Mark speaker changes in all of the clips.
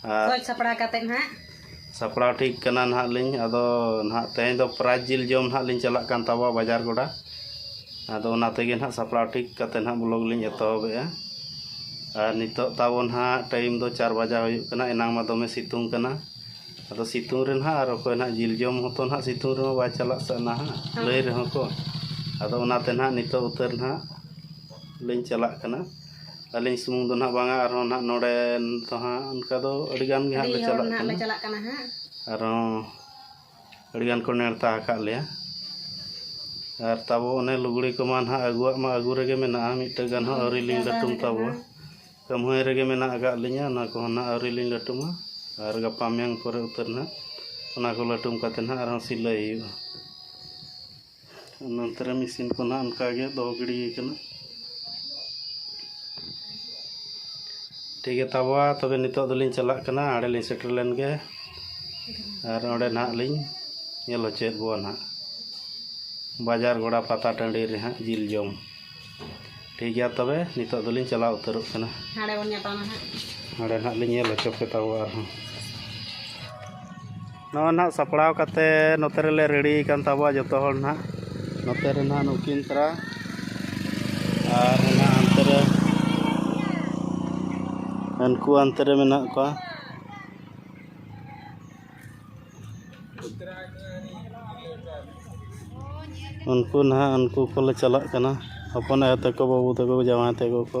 Speaker 1: ᱥᱚᱡᱽ ᱥᱟᱯᱲᱟᱣ ᱠᱟᱛᱮ ᱱᱟᱦᱟᱜ ᱥᱟᱯᱲᱟᱣ ᱴᱷᱤᱠ ᱠᱟᱱᱟ ᱱᱟᱦᱟᱜ ᱞᱤᱧ ᱟᱫᱚ ᱱᱟᱦᱟᱜ ᱛᱮᱦᱮᱧ ᱫᱚ ᱯᱨᱟᱭᱤᱡᱽ ᱡᱤᱞ ᱡᱚᱢ ᱱᱟᱦᱟᱜ ᱞᱤᱧ ᱪᱟᱞᱟᱜ ᱠᱟᱱ ᱛᱟᱵᱚᱣᱟ ᱵᱟᱡᱟᱨ ᱜᱚᱰᱟ ᱟᱫᱚ ᱚᱱᱟ ᱛᱮᱜᱮ ᱱᱟᱦᱟᱜ ᱥᱟᱯᱲᱟᱣ ᱴᱷᱤᱠ ᱠᱟᱛᱮ ᱱᱟᱦᱟᱜ ᱵᱞᱚᱜᱽ ᱞᱤᱧ ᱮᱛᱚᱦᱚᱵᱮᱜᱼᱟ ᱟᱨ ᱱᱤᱛᱚᱜ ᱛᱟᱵᱚ ᱱᱟᱦᱟᱜ ᱴᱟᱭᱤᱢ ᱫᱚ ᱪᱟᱨ ᱵᱟᱡᱟ ᱦᱩᱭᱩᱜ ᱠᱟᱱᱟ ᱮᱱᱟᱝ ᱢᱟ ᱫᱚᱢᱮ ᱥᱤᱛᱩᱝ ᱠᱟᱱᱟ ᱟᱫᱚ ᱥᱤᱛᱩᱝ ᱨᱮ ᱱᱟᱦᱟᱜ ᱟᱨ ᱚᱠᱚᱭ ᱱᱟᱦᱟᱜ ᱡᱤᱞ ᱡᱚᱢ ᱦᱚᱸᱛᱚ ᱱᱟᱦᱟᱜ ᱥᱤᱛᱩᱝ ᱨᱮᱦᱚᱸ ᱵᱟᱭ ᱪᱟᱞᱟᱜ ᱥᱮ ᱱᱟᱦᱟᱜ ᱞᱟᱹᱭ ᱨᱮᱦᱚᱸ ᱠᱚ ᱟᱫᱚ ᱚᱱᱟᱛᱮ ᱱᱟᱦᱟᱜ ᱱᱤᱛᱚᱜ ᱩᱛᱟᱹᱨ ᱱᱟᱦᱟᱜ ᱞᱤᱧ ᱪᱟᱞᱟᱜ ᱠᱟᱱᱟ ᱟᱹᱞᱤᱧ ᱥᱩᱢᱩᱝ ᱫᱚ ᱱᱟᱦᱟᱜ ᱵᱟᱝᱟ ᱟᱨᱦᱚᱸ ᱱᱟᱦᱟᱜ ᱱᱚᱰᱮ ᱫᱚ ᱦᱟᱸᱜ ᱚᱱᱠᱟ ᱫᱚ ᱟᱹᱰᱤ ᱜᱟᱱ ᱜᱮ ᱦᱟᱸᱜ ᱞᱮ ᱪᱟᱞᱟᱜ ᱠᱟᱱᱟ ᱞᱮ ᱪᱟᱞᱟᱜ ᱠᱟᱱᱟ ᱦᱟᱸᱜ ᱟᱨᱦᱚᱸ ᱟᱹᱰᱤ ᱜᱟᱱ ᱠᱚ ᱱᱮᱣᱛᱟ ᱟᱠᱟᱫ ᱞᱮᱭᱟ ᱟᱨ ᱛᱟᱵᱚ ᱚᱱᱮ ᱞᱩᱜᱽᱲᱤ ᱠᱚᱢᱟ ᱱᱟᱦᱟᱜ ᱟᱹᱜᱩᱣᱟᱜ ᱢᱟ ᱟᱹᱜᱩ ᱨᱮᱜᱮ ᱢᱮᱱᱟᱜᱼᱟ ᱢᱤᱫᱴᱟᱹᱝ ᱜᱟᱱ ᱦᱚᱸ ᱟᱹᱣᱨᱤ ᱞᱤᱧ ᱞᱟᱹᱴᱩᱢ ᱛᱟᱵᱚ ᱠᱟᱹᱢᱦᱟᱹᱭ ᱨᱮᱜᱮ ᱢᱮᱱᱟᱜ ᱟᱠᱟᱫ ᱞᱤᱧᱟᱹ ᱚᱱᱟ ᱠᱚᱦᱚᱸ ᱱᱟᱦᱟᱜ ᱟᱹᱣᱨᱤ ᱞᱤᱧ ᱞᱟᱹᱴᱩᱢᱟ ᱟᱨ ᱜᱟᱯᱟ ᱢᱮᱭᱟᱝ ᱯᱚᱨᱮ ᱩᱛᱟᱹᱨ ᱱᱟᱦᱟᱜ ᱚᱱᱟ ᱠᱚ ᱞᱟᱹᱴᱩᱢ ᱠᱟᱛᱮᱫ ᱱᱟᱦᱟᱜ ᱟᱨᱦᱚᱸ ᱥᱤᱞᱟᱹᱭ ᱦᱩᱭᱩᱜᱼᱟ ᱱᱚᱱᱛᱮ ᱨᱮ ᱢᱮᱥᱤᱱ ᱠᱚ ᱱᱟᱦᱟᱜ ᱚᱱᱠᱟ ᱜᱮ ᱫᱚᱦᱚ ᱜᱤᱰᱤ ᱟᱠᱟᱱᱟ ᱴᱷᱤᱠ ᱜᱮ ᱛᱟᱵᱚᱣᱟ ᱛᱚᱵᱮ ᱱᱤᱛᱚᱜ ᱫᱚᱞᱤᱧ ᱪᱟᱞᱟᱜ ᱠᱟᱱᱟ ᱟᱲᱮ ᱞᱤᱧ ᱥᱮᱴᱮᱨ ᱞᱮᱱ ᱜᱮ ᱟᱨ ᱚᱸᱰᱮ ᱱᱟᱦᱟᱜ ᱞᱤᱧ ᱧᱮᱞ ᱦᱚᱪᱚᱭᱮᱫ ᱵᱚᱣᱟ ᱱᱟᱦᱟᱜ ᱵᱟᱡᱟᱨ ᱜᱚᱲᱟ ᱯᱟᱛᱟ ᱴᱟᱺᱰᱤ ᱨᱮ ᱦᱟᱸᱜ ᱡᱤᱞ ᱡᱚᱢ ᱴᱷᱤᱠ ᱜᱮᱭᱟ ᱛᱚᱵᱮ ᱱᱤᱛᱚᱜ ᱫᱚᱞᱤᱧ ᱪᱟᱞᱟᱣ ᱩᱛᱟᱹᱨᱚᱜ ᱠᱟᱱᱟ ᱦᱟᱸᱰᱮ ᱵᱚᱱ ᱧᱟᱯᱟᱢᱟ ᱦᱟᱸᱜ ᱦᱟᱸᱰᱮ ᱱᱟᱦᱟᱜ ᱞᱤᱧ ᱧᱮᱞ ᱦᱚᱪᱚ ᱯᱮ ᱛᱟᱵᱚᱣᱟ ᱟᱨᱦᱚᱸ ᱱᱚᱣᱟ ᱱᱟᱜ ᱥᱟᱯᱲᱟᱣ ᱠᱟᱛᱮ ᱱᱚᱛᱮ ᱨᱮᱞᱮ ᱨᱮᱰᱤ ᱠᱟᱱ ᱛᱟᱵᱚᱣᱟ ᱡᱚᱛᱚ ᱦᱚᱲ ᱱᱟᱜ ᱱᱚᱛᱮ ᱨᱮ ᱱᱟᱜ ᱱᱩᱠᱤᱱ ᱛᱟᱨᱟ ᱟᱨ ᱚᱱᱟ ᱦᱟᱱᱛᱮ ᱨᱮ ᱩᱱᱠᱩ ᱦᱟᱱᱛᱮ ᱨᱮ ᱢᱮᱱᱟᱜ ᱠᱚᱣᱟ ᱩᱱᱠᱩ ᱱᱟᱦᱟᱜ ᱩᱱᱠᱩ ᱠᱚᱞᱮ ᱪᱟᱞᱟᱜ ᱠᱟᱱᱟ ᱦᱚᱯᱚᱱ ᱟᱭᱳ ᱛᱟᱠᱚ ᱵᱟᱹᱵᱩ ᱛᱟᱠᱚ ᱡᱟᱶᱟᱭ ᱛᱟᱠᱚ ᱠᱚ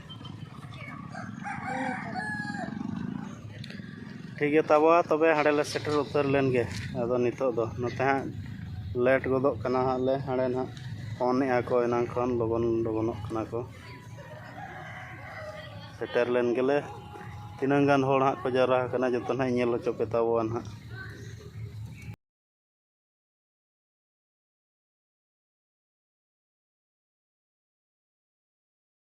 Speaker 1: ᱴᱷᱤᱠᱜᱮᱭᱟ ᱛᱟᱵᱟ ᱛᱚᱵᱮ ᱦᱟᱸᱰᱮ ᱞᱮ ᱥᱮᱴᱮᱨ ᱩᱛᱟᱹᱨ ᱞᱮᱱ ᱜᱮ ᱟᱫᱚ ᱱᱤᱛᱳᱜ ᱫᱚ ᱱᱚᱛᱮ ᱦᱟᱸᱜ ᱞᱮᱹᱴ ᱜᱚᱫᱚᱜ ᱠᱟᱱᱟ ᱦᱟᱸᱜ ᱞᱮ ᱦᱟᱸᱰᱮ ᱱᱟᱜ ᱯᱷᱳᱱᱮᱜᱼᱟ ᱠᱚ ᱮᱱᱟᱝ ᱠᱷᱚᱱ ᱞᱚᱜᱚᱱ ᱞᱚᱜᱚᱱᱚᱜ ᱠᱟᱱᱟ ᱠᱚ ᱥᱮᱴᱮᱨ ᱞᱮᱱ ᱜᱮᱞᱮ ᱛᱤᱱᱟᱹᱝ ᱜᱟᱱ ᱦᱚᱲ ᱦᱟᱸᱜ ᱠᱚ ᱡᱟᱣᱨᱟ ᱟᱠᱟᱱᱟ ᱡᱚᱛᱚ ᱱᱟᱜ ᱤᱧ ᱧᱮᱞ ᱦᱚᱪᱚ ᱯᱮ ᱛᱟᱵᱚᱣᱟ ᱱᱟᱜ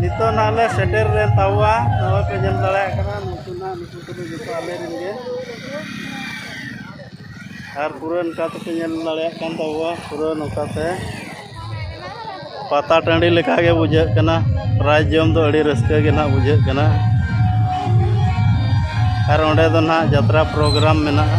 Speaker 1: ᱱᱤᱛᱚᱜ ᱱᱟᱦᱟᱜ ᱞᱮ ᱥᱮᱴᱮᱨ ᱞᱮᱱ ᱛᱟᱵᱚᱣᱟ ᱱᱚᱜᱼᱚᱭ ᱯᱮ ᱧᱮᱞ ᱫᱟᱲᱮᱭᱟᱜ ᱠᱟᱱᱟ ᱱᱩᱠᱩ ᱱᱟᱦᱟᱜ ᱱᱩᱠᱩ ᱠᱚᱫᱚ ᱡᱚᱛᱚ ᱟᱞᱮ ᱨᱮᱱ ᱜᱮ ᱟᱨ ᱯᱩᱨᱟᱹ ᱱᱚᱝᱠᱟ ᱛᱮᱯᱮ ᱧᱮᱞ ᱫᱟᱲᱮᱭᱟᱜ ᱠᱟᱱ ᱛᱟᱵᱚᱣᱟ ᱯᱩᱨᱟᱹ ᱱᱚᱝᱠᱟ ᱛᱮ ᱯᱟᱛᱟ ᱴᱟᱺᱰᱤ ᱞᱮᱠᱟ ᱜᱮ ᱵᱩᱡᱷᱟᱹᱜ ᱠᱟᱱᱟ ᱯᱨᱟᱭᱤᱡᱽ ᱡᱚᱢ ᱫᱚ ᱟᱹᱰᱤ ᱨᱟᱹᱥᱠᱟᱹ ᱜᱮ ᱱᱟᱜ ᱵᱩᱡᱷᱟᱹᱜ ᱠᱟᱱᱟ ᱟᱨ ᱚᱸᱰᱮ ᱫᱚ ᱱᱟᱜ ᱡᱟᱛᱨᱟ ᱯᱨᱳᱜᱨᱟᱢ ᱢᱮᱱᱟᱜᱼᱟ